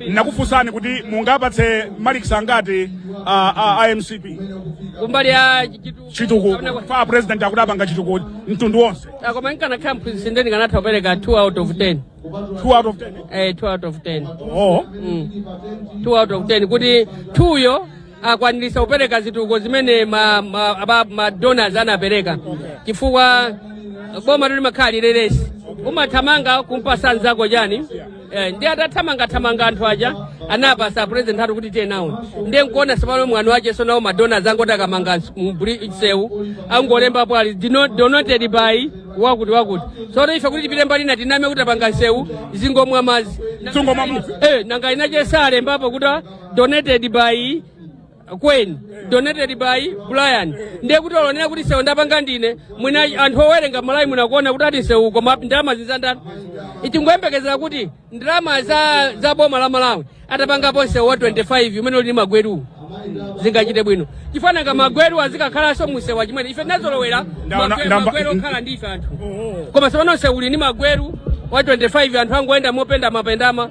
nakufunsani kuti mungapatse malikisi angati a, a, a MCP kumbali ya chitu- chitukuko kapena kwa- fa president akuti apanga chitukuko mtundu wonse Ah, koma nkanakhala mphunzitsi nde ndikanatha kupereka 2 out of 10 2 out of 10 eh 2 out of 10 oh Mm. 2 out of 10 kuti 2 yo akwanirisa kupereka zitukuko zimene ma, ma, aba- ma donors anapereka chifukwa boma limakhala la relay race umathamanga kumpasa nzako chani Eh, ndi atathamangathamanga anthu aja anapasa president athu kuti tiye nawo ndiye nkuona sopano mwanu wache sono awo ma donors angoti akamanga ns- mbri- msewu angolembapo ali "Dino- donated by wakuti wakuti sono ife kuti tipite mbali na tiname kuti apanga msewu zingomwa madzi Zingomwa madzi. Eh, nanga inache salembapo kuti donated by Queen donated by Brian ndiye kuti olonera kuti sewu ndapanga ndine mwina anthu owerenga malawi munakuona kuti ati sewu koma ndalama zinzandani itingoyembekezera kuti ndalama za, za boma la malawi atapangapo sewu wa 25 umene uli ndi magweruwu zingachite bwino chifana nga magweru azikakhalanso musewu chimene ife tinazolowera Ndaona- magwe- ndamba- magweru okhala ndi ife anthu koma sopano sewu uli ndi magweru wa 25 anthu angoyenda mopendamapendama